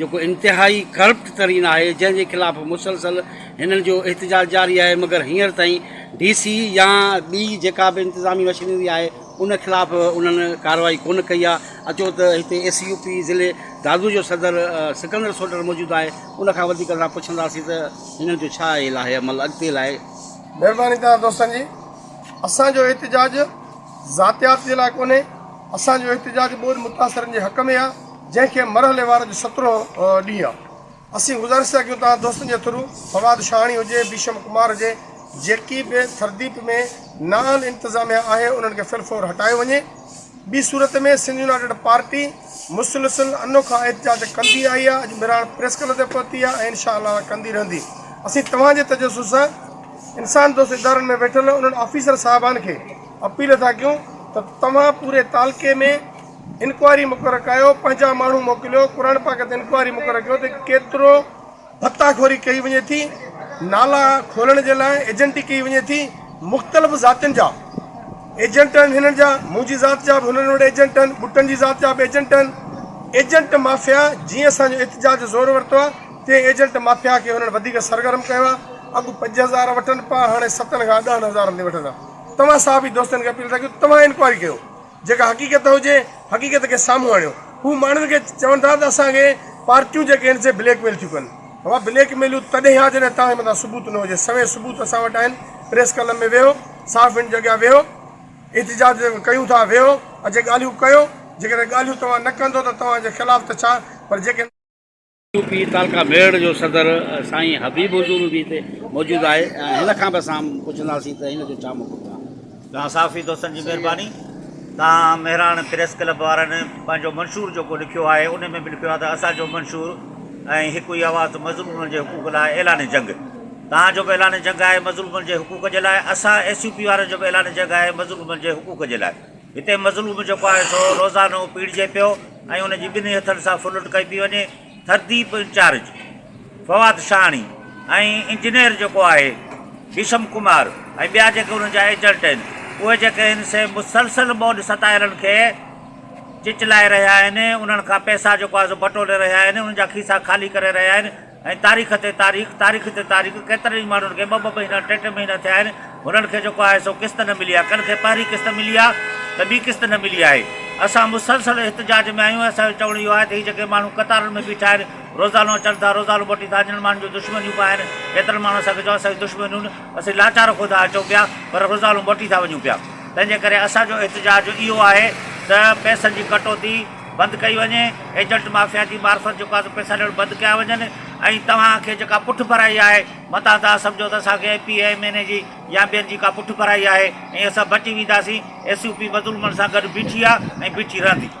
جيڪو انتهائي ڪرپٽ ترين آهي جنهن جي خلاف مسلسل هنن جو احتجاج جاري آهي مگر هينئر تائين ڊي سي يا ٻي جيڪا به انتظامي مشينري آهي ان خلاف انهن ڪارروائي ڪونه ڪئي آهي اچو ته هتي ايس يو پي ضلعي دادو جو صدر سڪندر سوٽر موجود آهي ان کان وڌيڪ اسان پڇنداسين ته هنن جو ڇا اهي لاهي عمل اڳتي لاء مهرباني تهان دوستن جي اسان جو احتجاج ذاتيات جي لاء ڪونهي، اسان جو احتجاج ٻوڏ متاثرن جي حق ۾ آ، جنهن کي مرحلي وار جو سترهون ڏينهن آ. اسين گذارش ٿا ڪيون توهان دوستن جي ٿرو، فواد شاهاڻي هجي، ڀيشم ڪمار هجي، جيڪي به سرديپ ۾ نااهل انتظاميا آهي انهن کي في الفور هٽايو وڃي. ٻي صورت ۾ سنڌ يونائيٽيڊ پارٽي مسلسل انوکا احتجاج ڪندي آئي آ، اڄ مھراڻ پريس ڪلب تي پهتي آ ۽ انشاء الله ڪندي رهندي. اسين توهان جي تجسس سان انسان دوست ادارن ۾ ويٺل انهن آفيسر صاحبان کي اپيل ٿا ڪيون ته توهان پوري تعلقي ۾ انڪوائري مقرر ڪايو پنهنجا ماڻهو موڪليو قرآن پاڪ تي انڪوائري مقرر ڪيو ته ڪيترو ڀتا خوري ڪئي وڃي ٿي نالا کولڻ جي لاء ايجنٽي ڪئي وڃي ٿي مختلف ذاتين جا ايجنٽ آهن هنن جا منهنجي ذات جا به هنن وٽ ايجنٽ آهن ٻٽن جي ذات جا به ايجنٽ آهن ايجنٽ مافيا جيئن اسان جو احتجاج زور ورتو آهي تي ايجنٽ مافيا کي انهن وڌيڪ سرگرم ڪيو آهي اڳ پنج هزار وٺن پيا هاڻي ستن کان ڏهن هزارن تائين وٺن ٿا توهان صحافي دوستن کي اپيل ٿا ڪيون توهان انڪوائري ڪيو جيڪا حقيقت هجي حقيقت کي سامهون آڻيو هو ماڻهن کي چون ٿا ته اسان کي پارٽيون جيڪي آهن سي بليڪ ميل ٿيون ڪن اها بليڪ ميلون تڏهن آ جڏهن توهان جي مٿان ثبوت نه هجي سوين ثبوت اسان وٽ آهن پريس ڪلب ۾ ويهو صحافين جي اڳيان ويهو احتجاج ڪيون ٿا ويهو اچي ڳالهيون ڪيو جيڪڏهن ڳالهيون توهان نه ڪندو ته توهان جي خلاف ته ڇا پر جيڪي يو پي تعلقه ميڙ جو صدر سائين حبيب حضور به هتي موجود آهي ۽ هن کان به اسان پڇنداسين ته هن جو ڇا موقف آهي. توهان صحافي دوستن جي مهرباني توهان مهراڻ پريس ڪلب وارن پنهنجو منشور جيڪو لکيو آهي ان ۾ به لکيو آهي ته اسان جو منشور ۽ هڪ ئي آواز مظلومن جي حقوق لاء اعلان جنگ توهان جو به اعلان جنگ آهي مظلومن جي حقوق جي لاء اسان ايس يو پي وارن جو به اعلان جنگ آهي مظلومن جي حقوق جي لاء. هتي مظلوم جيڪو آهي سو روزانو پيڙجي پيو ۽ ان جي ٻنهي هٿن سان ڦرلٽ ڪئي پئي وڃي، ٿرديپ انچارج، فواد شاهاڻي ۽ انجنيئر جيڪو آهي ڀيشم ڪمار ۽ ٻيا جيڪي انهن جا ايجنٽ آهن اهي جيڪي آهن سي مسلسل ٻوڏ ستايلن کي چچلائي رهيا آهن، انهن کان پئسا جيڪو آهي سو بٽوري رهيا آهن، انهن جا کيسا خالي ڪري رهيا آهن. ۽ تاريخ تي تاريخ، تاريخ تي تاريخ، ڪيترن ئي ماڻهن کي ٻه ٻه مهينا، ٽي ٽي مهينا ٿيا آهن، هنن کي جيڪو آهي سو قسط نه ملي آهي، ڪن کي پهرين قسط ملي آهي ته ٻي قسط نه ملي آهي، اسان مسلسل احتجاج ۾ آهيون ۽ اسان جو چوڻ اهو آهي ته هي جيڪي ماڻهو قطارن ۾ بيٺا آهن، روزانو اچن ٿا، روزانو موٽين ٿا، جن ماڻهن جون دشمنيون به آهن، ڪيترن ماڻهن اسان کي چيو آهي اسان جون دشمنيون نه، اسين لاچار خدا اچون پيا پر روزانو موٽي ٿا وڃون پيا، تنهنجي ڪري اسان جو احتجاج اهو آهي ته پئسن جي ڪٽوتي، بند ڪئي وڃي، ايجنٽ مافيا جي معرفت جيڪا سو پئسا ڏيڻ بند ڪيا وڃن ۽ توهان کي جيڪا پٺڀرائي آهي متان تان سمجهو ته اسان کي M P A, M N A جي يا ٻين جي ڪا پٺڀرائي آهي ۽ اسان بچي وينداسين، ايس يو پي مظلومن سان گڏ بيٺي آهي ۽ بيٺي رهندي.